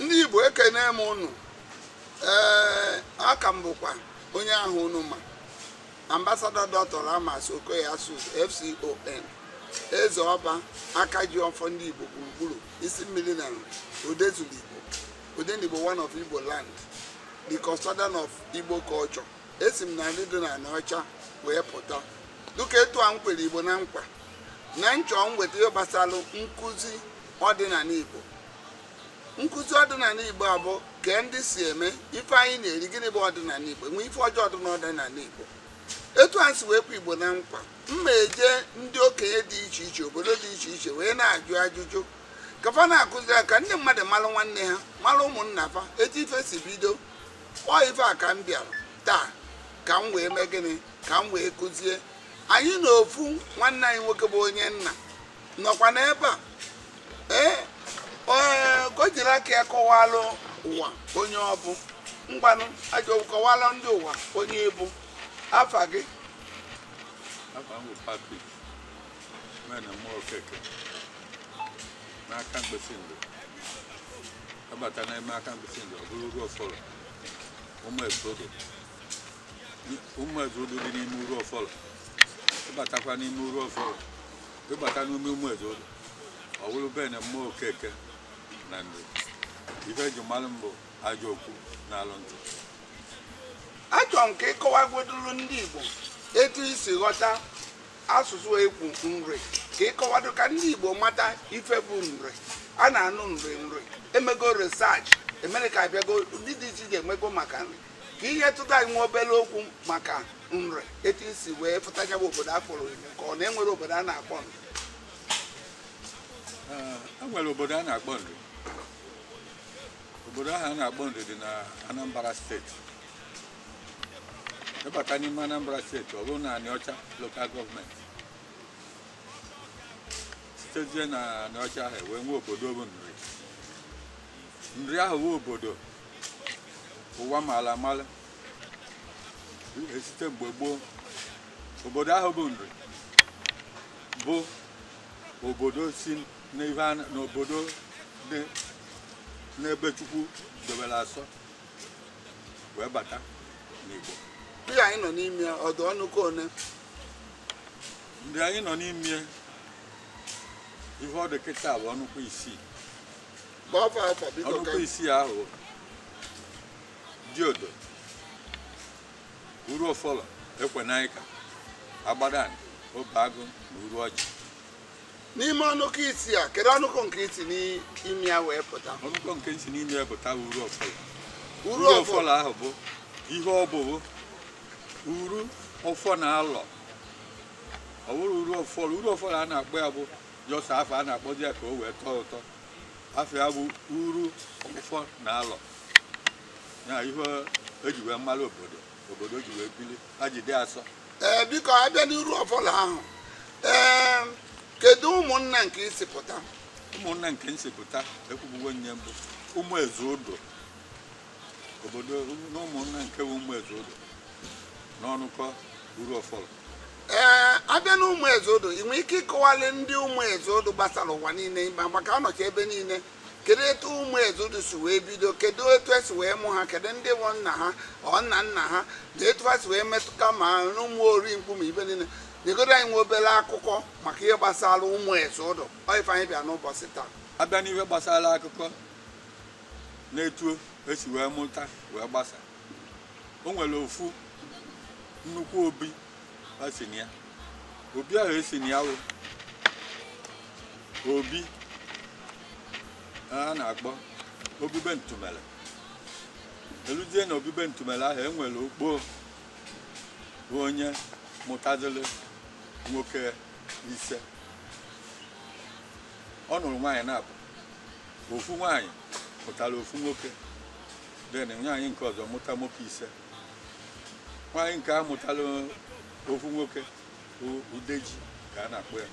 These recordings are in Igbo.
ndị Igbo ekene m ụnụ ee a ka m bụkwa onye ahụ ụnụ ma ambassador doctor Ramas Okoye Asuzu FCON eze ọba aka ji ọfọ ndị Igbo gburugburu isi mmiri na odezuru Igbo odenigbo one of Igbo land the custodian of Igbo culture esi m na Nri dị na Anaọcha wee pụta dịka etu a m kwere Igbo na nkwa na nchọ m weta ihe gbasara nkụzi ọdịnala Igbo nkụzi ọdịnala igbo a bụ ka ndị si eme ife anyị na-eri gịnị bụ ọdịnala igbo e nwee ife ọjọọ dị n'ọdịnala igbo etu a m si wee kwe igbo na nkwa m na-eje ndị okenye dị iche iche obodo dị iche iche wee na-ajụ ajụjụ ka fa na-akụzi ya ka ndị mmadụ malụ nwanne ha malụ ụmụnna fa etu ife si bido ọ ife a ka m bịara taa ka m wee mee gịnị ka m wee kụzie anyị na ofu nwanne anyị nwoke bụ onye nna nọkwa n'ebe a ee ka o jiri aka ya kọwalụ ụwa onye ọ bụ ngwanụ ajọ kọwalụ ndị ụwa onye ị bụ afa gị afa m bụ Patrick Enemmụọ Okeke n'Akamkpịsị Nri a bata n'ime Akamkpịsị Nri ọ bụrụ Uruọfọlọ ụmụ ezodo ụmụ ezodo dị n'ime Uruọfọlọ ị batakwa n'ime Uruọfọlọ ị bata n'ime ụmụ ezodo ọ bụrụ be Enemmụọ Okeke na Nri ife e ji malụ m bụ ajọ ọkụ na-alụ ntụ achọrọ m ka ị kọwagodoro ndị Igbo etu i si ghọta asụsụ ekwu nri ka ị kọwado ka ndị Igbo mata ife bụ nri a na-anụ nri nri emego research America abịago ndị dị iche iche emego maka nri ka ihe tụta anyị nwa obere okwu maka nri etu i si wee pụta ya bụ obodo a kpọrọ ya ka ọ na e nwere obodo a na-akpọ nri e nwere obodo a na-akpọ nri obodo ahụ a na-akpọ nri dị na Anambra state ị bata n'ime Anambra state ọ bụrụ na Anaọcha local government sitezie na Anaọcha ahụ wee nwee obodo bụ nri nri ahụ bụ obodo ụwa mala amala e site mgbe gboo obodo ahụ bụ nri bụ obodo si n'ihe a na- n'obodo dị n'ebe chukwu dobere asọ wee bata n'igbo ihe anyị nọ n'ime ya ọdụ ọnụ ka one ndị anyị nọ n'ime ihe ọ dị kịta bụ ọnụkwa isii ọnụkọ isii ahụ diodo uru ofolo ekwenaika agbadana obeagụ na uru ọjị n'ime ọnụkọ isii a kedu ọnụkọ nke i si n'ime ya wee pụta ọnụkọ nke i si n'ime ya pụta bụ uru ofolo uru ofolo ahụ bụ ihe ọ bụbu uru ọfọ na alọ ọ bụrụ uru ofolo uru ofolo a na-akpọ ya bụ just afa a na-akpọzi ya ka o wee tọọ ụtọ afa ya bụ uru ọfọ na alọ ya ihe eji wee malụ obodo obodo ji wee bili ha ji dị asọ ee eh, biko abịa n'uru ofolo ahụ ee eh, kedu ụmụnna nke i si pụta ụmụnna nke m si pụta ekwubuwo m ya mbụ ụmụ eze odo obodo na ụmụnna nke bụ ụmụ eze odo n'ọnụkọ uru ofolo ee abịa na ụmụ eze odo ị nwere ike ịkọwalị ndị ụmụ eze odo gbasara ụwa niile ịma maka ha nọcha ebe niile kedu etu ụmụ eze odo si wee bido kedu etu esi wee mụ ha kedu ndị bụ nna ha or nna nna ha na etu ha si wee metụta ma n'ụmụ ori mkpu ma ebe niile nyegodu anyị nwa obere akụkọ maka ihe gbasara ụmụ eze odo ọ ife anyị bịa n'ụbọchị taa abịa n'ihe gbasara akụkọ na etu esi wee mụta wee gbasa o nwere ofu nnukwu obi esi na ya obi ahụ esi na ya wụ obi a na-akpọ obi be ntumele eluzie na obi be ntumele ahụ enwere okpo bụ onye mụtaziri nwoke ise ọ nụrụ nwaanyị naabọ ofu nwaanyị mụtara ofu nwoke then nwaanyị nke ọzọ mụta nwoke ise nwaanyị nke a mụtara ofu nwoke bụ udeji ka a na-akpọ ya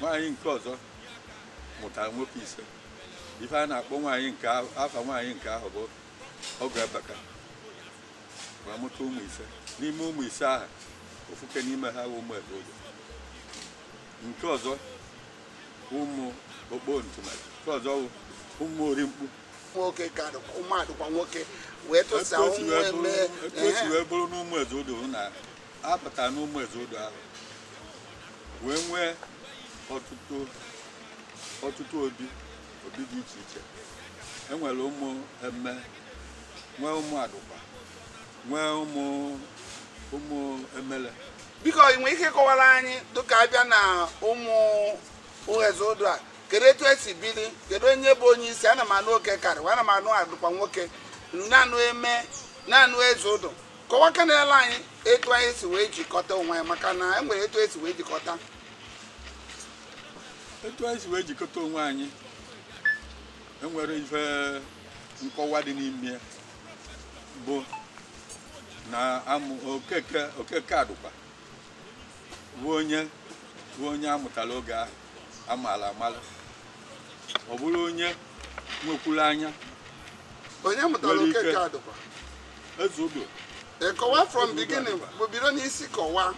nwaanyị nke ọzọ mụtara nwoke ise ife a na-akpọ nwaanyị nke ahụ afa nwaanyị nke ahụ bụ ọgụ abaka ma mụta ụmụ ise n'ime ụmụ ise ahụ ofuke n'ime ha bụ ụmụ eze odo nke ọzọ ụmụ okpo ntumele nke ọzọ wụ ụmụ ori mkpu nwoke ka adịkwa ụmụ adịkwa nwoke wee etu tụsa o si ụmụ wee eme bụrụ- etu o si wee bụrụ n'ụmụ eze odo ahụ na apụta n'ụmụ eze odo ahụ wee nwee ọtụtụ ọtụtụ obi obi dị iche iche enwere ụmụ eme nwee ụmụ adụkwa nwee ụmụ ụmụ emele biko ị nwere ike ịkọwara anyị dịka a bịa na ụmụ eze ụdụ a kedu etu e si bili kedu onye bụ onye isi ana m anụ okeke ana m anụ adụkwa nwoke na-anụ eme na-anụ eze ụdụ kọwa kenele anyị etu anyị si wee jikọta onwe anyị maka na e nwere etu e si wee jikọta etu anyị si wee jikọta onwe anyị e nwere ife nkọwa dị n'ime ya bụ na amụ okeke okeke adụkwa bụ onye bụ onye a mụtara oge ahụ amaala amala ọ bụrụ onye nwekwuru anya onye mụtara Nwere ike. okeke adụkwa eze obi kọwa from beginning bụ bido n'isi kọwa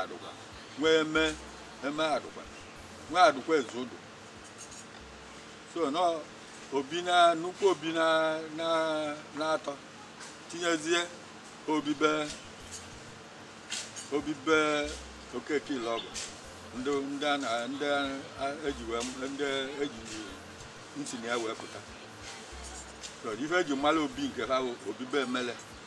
adụkwa nwe eme eme adụkwa nwe adụkwa eze ụdụ so na obi na nnukwu obi na na naatọ tinyezie obi be obi be okeke ilọgụ ndị ndị a na ndị a- eji wee ndị e si na ya wee pụta so ife e ji mara obi nke ha bụ obi be emele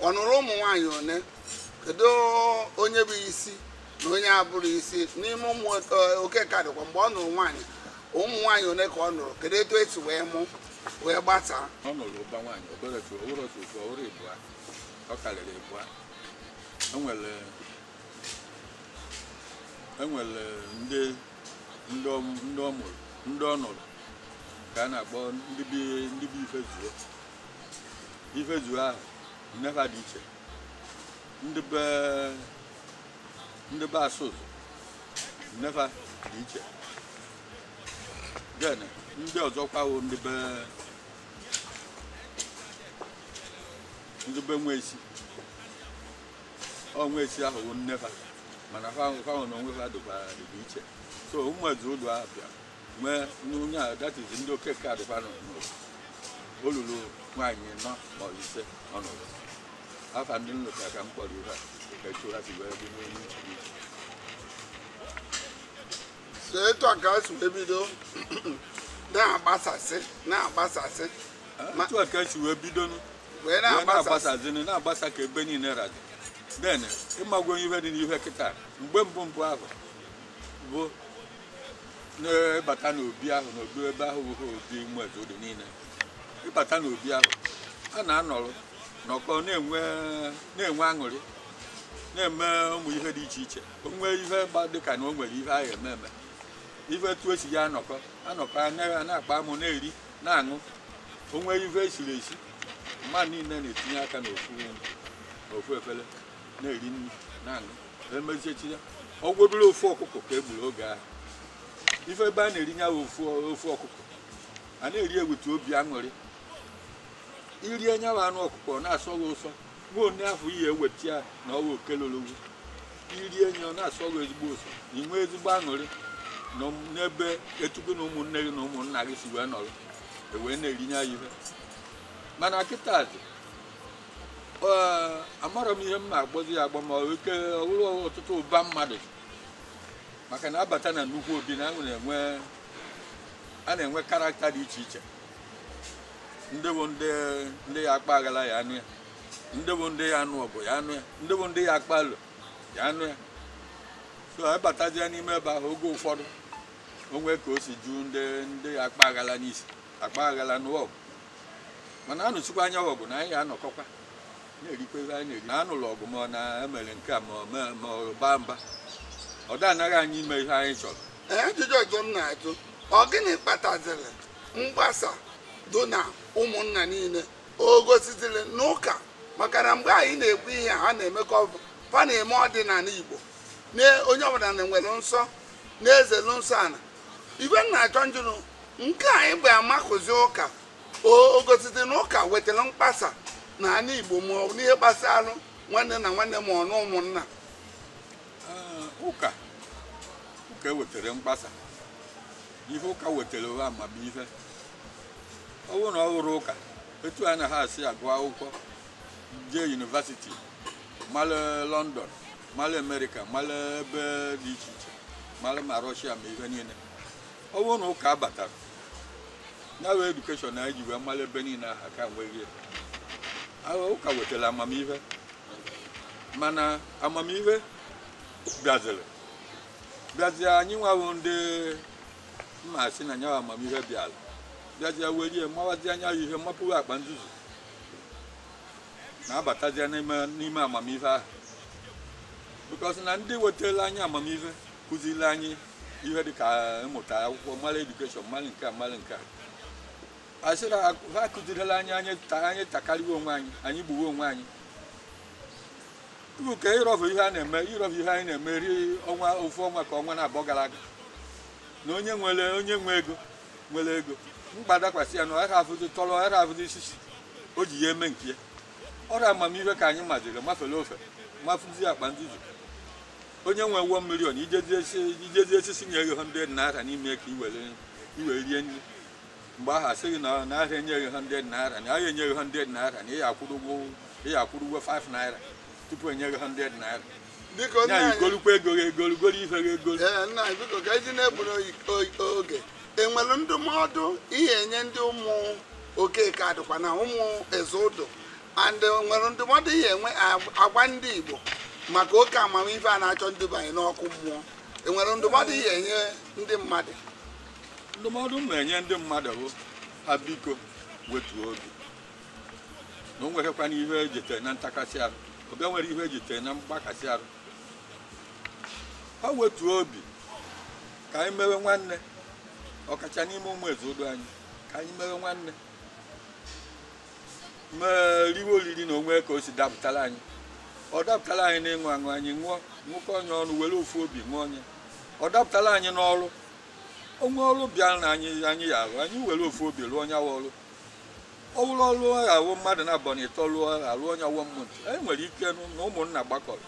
ọ nụrụ ụmụ nwaanyị one kedu onye bụ isi na onye abụrọ isi n'ime ụmụ okeke adụkwa mgbe ọ nụrụ nwaanyị ụmụ nwaanyị one ka ọ nụrụ kedu etu e si wee mụ wee gbasaa ọ nụrụ ụba nwaanyị ọ bụrọ otu ọ bụrọ otu otu ọ bụrọ ịbụa ọ karịrị ịbụa e nwere e nwere ndị ndị ọ mụrụ ndị ọ nụrụ ka a na-akpọ ndị be ifezuo ifezuo ahụ nne fa dị iche ndị be ndị be asụzụ nne fa dị iche then ndị ọzọkwa wụ ndị be ndị be nwa esi ọnwa esi ahụ bụ nne fa mana fanwa na onwe fa dịkwa dịkwa iche so ụmụ eze ụdụ ahụ bịara nwee n'onye a that is ndị okeke adụkwa nọ n'ụlọ ọ lụrụ nwaanyị anọ ma ọ bụ ise ọ nụrụ afa ndị m lota ka m kpọrọ ha ka etu ha si wee dị n'elu nchiri so etu a ka o si wee bido na-agbasasị na-agbasasị Ma- otu a ka e si wee bido nụ wee wee na-agbasasị na-agbasazini na-agbasa ka ebe niile radị then ị mago ihe dị n'ihe kịta mgbe mbụ mbụ ahụ bụ na ị bata n'obi ahụ n'obi ebe ahụ bụ obi ụmụ eze odo niile ị bata n'obi ahụ a na-anọrọ nọkọ na-enwe na-enwe aṅụrị na-eme ụmụ ihe dị iche iche o nwee ihe gba dịka na o nwere ihe ahụ eme eme ife etu e si ya anọkọ anọkọ a na- a na-akpa amụ na-eri na-aṅụ o nwee ihe e siri esi mmadụ niile na-etinye aka n'ofu n'ofu efere na-eri nri na-aṅụ emezichaa ọ bụgodu ofu ọkụkọ ka e gburu oge ahụ ife ebe a na-eri nyawa ofu ofu ọkụkọ a na-eri ewetu obi aṅụrị i rie nyawa anụ ọkụkọ ọ na-asọ gị ụsọ nwa onye afọ ihe e weta ya na ọwa okelologwu i rie nye ọ na-asọ gị ezigbo ụsọ i nwee ezigbo aṅụrị nọ n'ebe etu gị na ụmụnne gị na ụmụnna gị si wee nọrọ wee na-eri nyawa ihe mana kịtazị Ee, amarọ m ihe m na-agbazi ya agba ma ọ ike ọ wụrụ ọtụtụ ụba mmadụ maka na a bata na nnukwu obi na ahụ na-enwe a na-enwe character dị iche iche ndị bụ ndị ndị ya akpa aghala ya anọ ya ndị bụ ndị ya anụ ọgụ ya anọ ya ndị bụ ndị ya akpa alo ya anọ ya so a batazie n'ime ebe ahụ oge ụfọdụ o nwee ka o si ju ndị ndị ya akpa aghala n'isi akpa aghala nụwa ọgụ mana a nụsịkwa nya bụ ọgụ na anyị ya anọkọkwa na-erikwa ihe anyị na-eri na a nụlụ ọgụ ma ọ na e mere nke a ma ọ mee- ma ọ baa mba ọ da anagha anyị ime ihe anyị chọrọ Ee, ajụjụ ọzọ m na-ajụ ọ gịnị kpataziri mgbasa dị na ụmụnna niile o gosiziri na ụka maka na mgbe anyị na-ekwu ihe a, ha na-emekọ ọ bụ fa na-eme ọdịnala igbo na onye ọbụla na-enwere nsọ na-ezelu nsọ ana ife m na-achọ njụrụ nke anyị bịa amakụzi ụka o gosizi na ụka wetara mkpasa na anị igbo ma ọ bụ n'ihe gbasara nwanne na nwanne ma ọ na ụmụnna ụka ụka wetara mkpasa ihe ụka wetara wụ amamihe ọ bụrụ na ọ wụrọ ụka etu anyị na ha si agụ akwụkwọ jee university mara London mara America mara ebe dị iche iche mara ma Russia ma ihe niile ọ bụrụ na ụka abatarọ nyawa education anyị ji wee mara ebe niile ahụ a ka enweghị ya. Ahụ ụka wetara amamihe mana amamihe bịaziri bịazie anyị nwa bụ ndị mma asị na nyawa amamihe bịara bịazie were mawazi nyawa ihe mapụghị akpa nzuzu na-abatazie n'ime n'ime amamife ahụ because na ndị wetara anyị amamife kụziri anyị ihe dịka ịmụta akwụkwọ mara education mara nke a mara nke a asịrị ha ha kụzirila anyị anyị ta- anyị takarịwa onwe anyị anyị gbuwe onwe anyị tupu ka ịrọfụ ihe a na-eme ịrọfụ ihe anyị na-eme rie ọnwa ofu ọnwa ka ọnwa naabọ gara aga na onye nwere onye nwe ego nwere ego mkpa dakwasị ya na ọ ghara afụzi tọrọ ọ ghara afụzi sisi o ji ya eme nke ya ọrịa amamihe ka anyị maziri mafere ofe mafụzi akpa ndị ji onye nwe 1 million i jezi esisi nye gị 100 naira n'ime ka i were i were rie nri mgbe ahụ a sị gị na na ha ya enye gị 100 naira na ha ya enye gị 100 naira na ị ya akwụrụ ụgwọ ị ya akwụrụ ụgwọ 5 naira tupu e nye gị 100 naira biko nna anyị igolukwa ego gị egolu golu ife gị egolu ee nna anyị biko ka e ji na-egburu oge enwere ndụmọdụ ị ya enye ndị ụmụ okeke adịkwa na ụmụ eze ụdụ and nwere ndụmọdụ ị ya enwe agwa ndị igbo maka oke amamife a na-achọ nduba anyị n'ọkụ mmụọ enwere ndụmọdụ ị ya enye ndị mmadụ ndụmọdụ m na-enye ndị mmadụ bụ ha biko wetuo obi na o nweghịkwana ihe ejitere na ntakasị arụ obe nwere ihe ejitere na mgbakasị arụ ha wetuo obi ka anyị mewe nwanne ọkacha n'ime ụmụ eze ụdụ anyị ka anyị mewe nwanne mee riwe oriri na onwe ka o si dapụtara anyị ọ dapụtara anyị n'ịṅụ aṅụ anyị ṅụọ ṅụkọ nya ọnụ were ofu obi ṅụọ nya ọ dapụtara anyị n'ọrụ o nwee ọrụ bịara na anyị anyị ya arụ anyị were ofu obi rụọ nya awa ọrụ ọ bụrụ ọlụ ya awụ mmadụ naabọ na ịtọ lụọ a lụọ nya one month e nwere ike nụ na ụmụnna gbakọrọ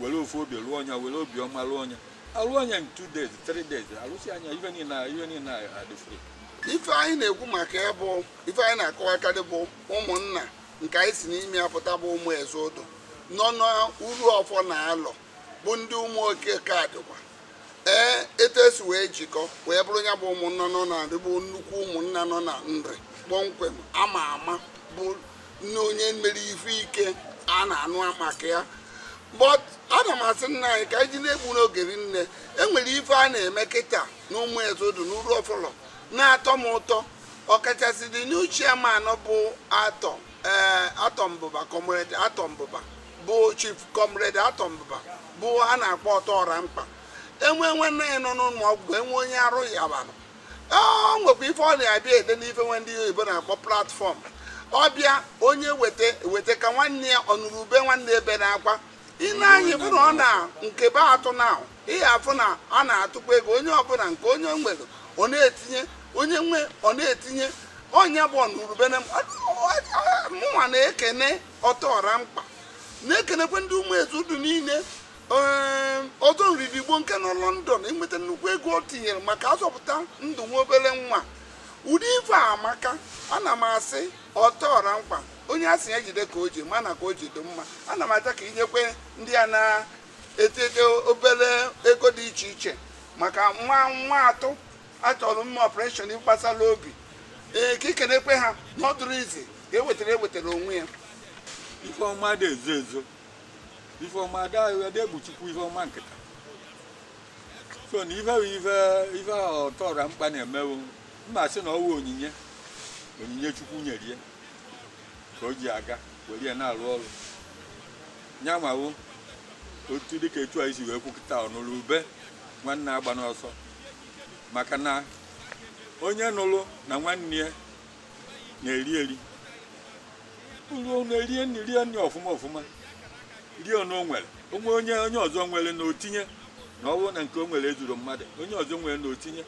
were ofu obi lụọ nya were obi ọma lụọ nya a lụọ nya in two days three days a lụsịa nya ife niile a- ife niile a adị fere ife anyị na-ekwu maka ya bụ ife anyị na-akọwakarị bụ ụmụnna nke anyị si n'ime ya pụta bụ ụmụ eze ụdụ nọ n'uru ọfọ na alọ bụ ndị ụmụ okeke adịkwa ee etu e si wee jikọ wee bụrụ ya bụ ụmụnna nọ na nri bụ nnukwu ụmụnna nọ na nri kpọmkwem ama ama bụ na onye mere ife ike a na-anụ maka ya but ana m asị nna anyị ka anyị ji na-egbu n'oge rinne enwere ife a na-eme kịta na ụmụ eze ụdụ n'uruofolo na-atọ m ụtọ ọkachasị the new chairman ọ bụ arthur ee arthur mbuba comrade arthur mbuba bụ chief comrade arthur mbuba a na-akpọ ọtọ ọra mkpa e nwee nwanne ya nọ n'ụlọ ọgwụ e nwee onye arụ ya bara ọ nwekwa ife ọ na-abịa ede n'ife nwe ndị oyibo na-akpọ platform ọ bịa onye weta weta ka nwanne ya ọnụrụ ube nwanne ebe na-akwa ile anyị bụ na ọ na nke be atụ na ihe afụ na a na-atụkwa ego onye ọbụla nke onye nwere ọ na-etinye onye nwe ọ na-etinye onye bụ ọnụrụ ube na mụnwa na-ekene ọtọọra mkpa na-ekenekwe ndị ụmụ ezudu niile ee, ọzọ ndị igbo nke nọ lọndọn iweta nnukwu ego o tinyere maka ịzọpụta ndụ nwa obere nwa ụdị ife a amaka ana m asị ọtọọra mkpa onye a sị ya jide ka o ji mana ka o ji dị mma ana m achọ ka ikenekwe ndị a na-atụkọ obere ego dị iche iche maka nwa nwata a chọrọ ime ọpụreshọn gbasara obi ee ka ikenekwe ha na ọ dịrọ easy ka e wetara ewetara onwe ya ife ọma adị ezo ezo ife ọma adegbuchukwu ife ọma nkịta so na ife bụ ife ife ọtọọra mkpa na-emewo mma sị na ọ wụ onyinye onyinye chukwu nyere ya ka o ji aga were ya na-arụ ọrụ ya mawo otu dịka etu anyị si wee kwu kịta ọnụrụ ube nwanne agbana ọsọ maka na onye nụrụ na nwanne ya na-eri eri ruo na-erie nri rie nri ọfụma ọfụma rie na o nwere onwe onye onye ọzọ nwere na otinye na ọ bụrụ na nke o nwere ezuru mmadụ onye ọzọ nwere na otinye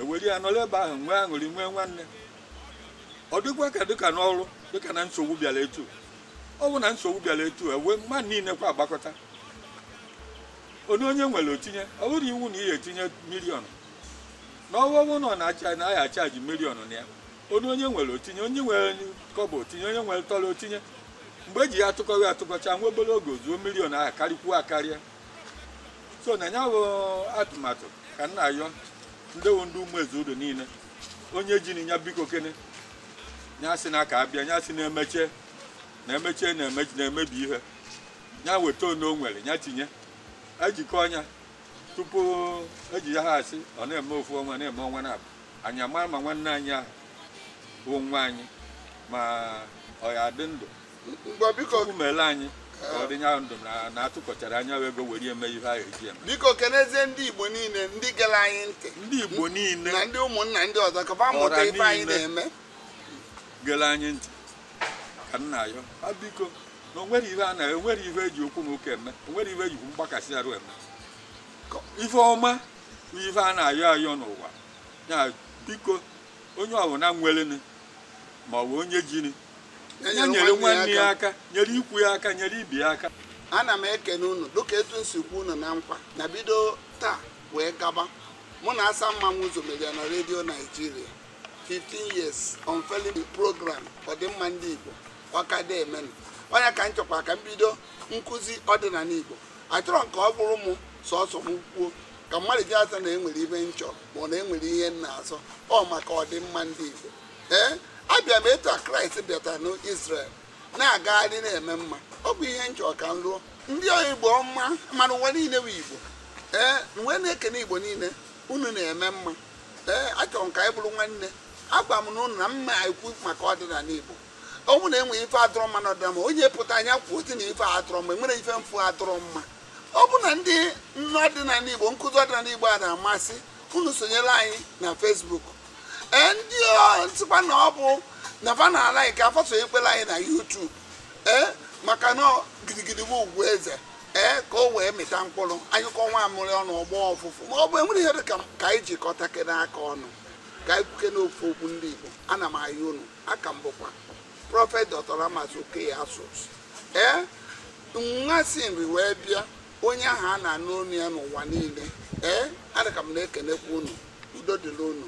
ewere ya nọrọ ebe ahụ nwee aṅụrị nwee nwanne ọ dịkwa ka dịka n'ọrụ dịka na nsogbu bịara etu ọ bụ na nsogbu bịara etu ewee mmadụ niile kwa agbakọta onye onye nwere o tinye ọ bụrọ iwu na ị ya-etinye miliọnụ na ọ wụ na ha chajị miliọnụ na ya onye onye nwere o tinye onye nwere kọbọ o tinye onye nwere tọrọ o tinye mgbe eji ya atụkọ atụkọcha nwa obere oge o zuo miliọnụ ahụ karịkwuo akarịa so na ya bụ atụmatụ ka m na-ayọ ndewo ndị ụmụ ezudu niile onye jini ya biko kene ya sị na ka a bịa ya sị na emeche na-emebi ihe ya weta one o nwere ya tinye e jikọọ nya tupu eji ya ha asị ọ na-eme ofu ọnwa na-eme ọnwa naabọ anyị amara ma nwanne anyị ahụ bụ nwa anyị ma ọ ya adị ndụ ngwa biko chukwu mele anyị ka ọ dị nya ndụ na- na atụkọchara nya wụ ego were eme ihe ahụ eji eme biko kenezie ndị igbo niile ndị gere anyị ntị ndị igbo niile na ndị ụmụnna ndị ọzọ ka fa mụta ọra ife anyị niile na-eme gere anyị ntị ka m na-ayọ ha biko na o nwere ihe a na enwere ihe eji okwu na ụka eme o nwere ihe e jikwu mgbakasị arụ eme ka ife ọma bụ ife a na-ayọ ayọ n'ụwa a biko onye ọbụla nweleni ma ọ bụ onye jini ya nyere nwanne ya aka nyere ikwu ya aka nyere ibe ya aka ana m ekene unu dịka etu m si kwe unu na nkwa na bido taa wee gaba mụ na asa mmanwụ ụzọ media na redio naijiria 15 years unfailing program ọdịmma ndị Igbo ọ ka na-emenụ onye ka m chọkwa ka m bido nkụzi ọdịnala Igbo achọrọ m ka ọ bụrụ m sọsọ m kwuo ka mmadụ ji asị na enwere ihe m chọrọ ma ọ na enwere ihe m na-azọ ọ maka ọdịmma ndị Igbo ee abịa m etu a Kraịst bịatara n'Israel na-agagharị na-eme mma ọ bụ ihe m chọ ka m lụọ ndị Igbo ọma mana ụwa niile bụ Igbo ee m wee na-ekene Igbo niile unu na-eme mma ee achọrọ m ka anyị bụrụ nwanne agwa m ụnụ na m ma ekwu maka ọdịnala igbo ọ bụ na enwe ife adịrọ mma na ọdịnala onye pụta anyị kwuo otu na ife adịrọ mma enwere ife m fụ adịrọ mma ọ bụ na ndị ọdịnala igbo nkụzi ọdịnala igbo a na-amasị unu sonyere anyị na Facebook ee ndị m sịkwa na ọ bụ na fa na-alike a fa sonyekwere anyị na YouTube ee maka na gidigidi bụ ugwu eze ee ka o wee mịta mkpụrụ anyụkọ nwamịrị ọnụ ọ gbọ ọfụfụ ma ọ bụ enwere ihe dị ka ka anyị jikọtakene aka ọnụ ka anyị kwukene ofu okwu ndị Igbo ana m ayọ unu a ka m bụkwa prọfet Dr. Ramas Okoye Asuzu ee nwa si Nri wee bịa onye ahụ a na-anụ onu ya n'ụwa niile ee adịka m na-ekenekwa unu udo dịrị unu